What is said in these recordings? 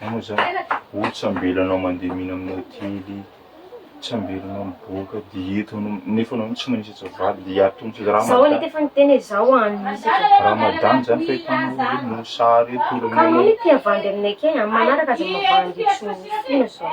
Anao zany oh tsy ambela anao mandeha mihina amin'ny hotely, tsy ambela anao miboaka dia eto anao nefa anao tsy manisy atsy vady dia ato misy raha Zao anie tefa niteny hoe zao an misy eto. Ramadan zany fahitanao hoe mosary eto olona Ka anao anie te havandy aminay kay an, manaraka aza mavandy etsy noho fona zao.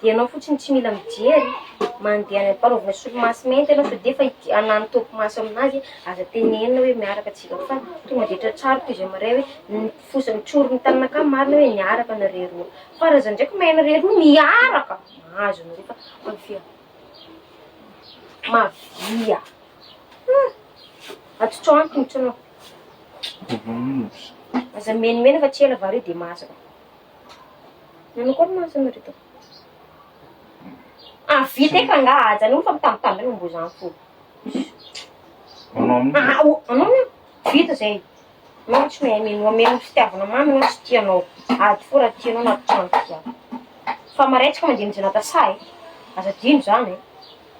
dia ianao fotsiny tsy mila mijery mandeha any ampanaovina solomaso mainty ianao fa dia efa ity anano top maso amin'azy aza tenenina hoe miaraka tsika fa tonga dia tratrary toy izay maray hoe ny fosa ny tsory ny tanana ka marina hoe niaraka nareo roa fa raha za ndraiky mahay nareo roa miaraka mahazo anareo fa mavia mavia ah atotrao any tombotsoanao aza mimenimena fa tsy ela vary io dia masaka Nanakôry ma asany ry Tompo? Ah vita efa nga aza anao mifampitambitambina mbô zany fôgna. Anao amin'io. Ah o anao na vita zay. Anao tsy mahay mihaino omeo ny fitiavana mamy anao tsy tia anao. Ady fô raha tia anao na tia anao tia. Fa maretsaka mandeha mijanata sahy e. Aza adino zany e.